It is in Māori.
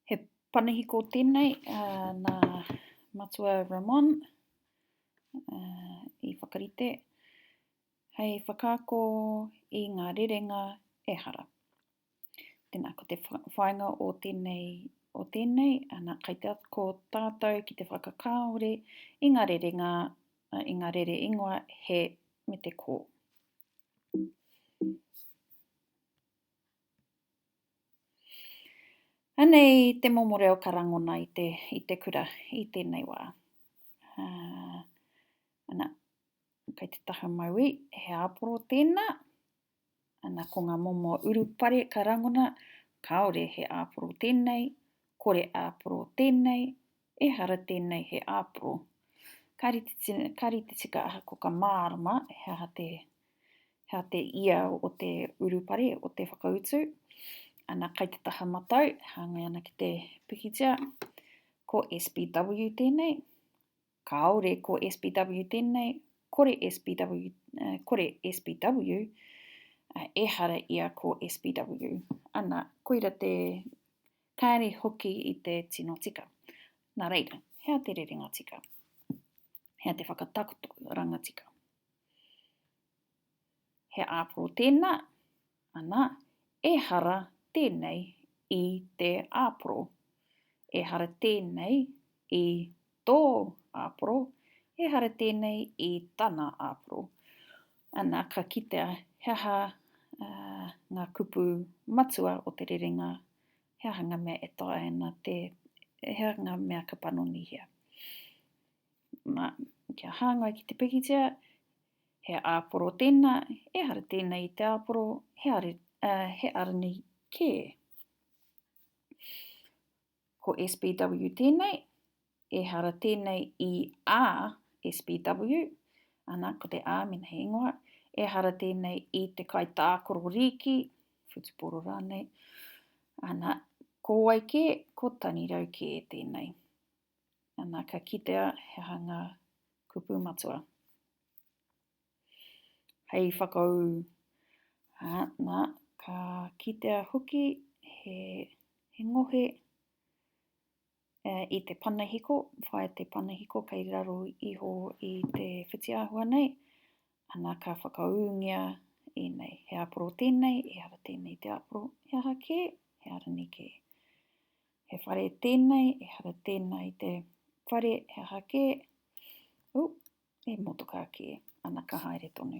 He panihiko tēnei nā Matua Ramon i whakarite hei whakaako i ngā rerenga ehara. Tēnā, ko te whainga o tēnei, o tēnei, ana, kai te ko tātou ki te whakakāore i ngā rere, ngā, i ngā rere ingoa he me te kō. Anei te momo reo ka rangona i te, i te kura i tēnei wā. Uh, ana, kei te taha maui, he āporo tēnā. Ana, ko ngā momo urupare ka rangona, kāore he āporo tēnei, kore āporo tēnei, Ehara tēnei he āporo. Ka rite, ka rite tika aha ko ka mārama he aha te, he aha te ia o te urupare, o te whakautu. Ana kai te taha matau, hāngai ana ki te pikitia. Ko SBW tēnei, kāore ko SBW tēnei, kore SBW, eh, kore SBW, eh, ehara ia ko SBW. Ana, koira te, Kāre hoki i te tino tika. Nā reira, hea te rerenga tika? Hea te whakatakoto ranga tika? He āporo tēnā? Anā, ehara tēnei i te āporo. Ehara tēnei i Tō āporo, ehara tēnei i tana āporo. Ana ka kitea he aha ngā kupu matua o te rerenga, he aha ngā mea e taea ana te, he aha ngā mea ka panonihia. Nā, kia hāngai ki te pikitia, he āporo tēnā, ehara tēnei i te āporo, he, are, uh, he aranei kē. Ko SBW tēnei, ehara tēnei i a SBW, ana, ko te a mēnā he ingoa, ehara tēnei i te kaitākoro rīki, whutupōro rānei, ana, ko wai kē, ko tanirau kē tēnei. Ana, ka kitea he aha ngā kupu matua. hei whakaū. Ā, nā, ka kitea hoki he, he ngohe e, i te panahiko, whai te panahiko kei raro iho i te whitiāhua nei, ana ka whakaūngia i nei. He aporo tēnei, e hara tēnei te aporo, he aha kē, he arani kē. He whare tēnei, e hara tēnei te whare, he aha kē, u, E motoka ake ana ka haere tonu.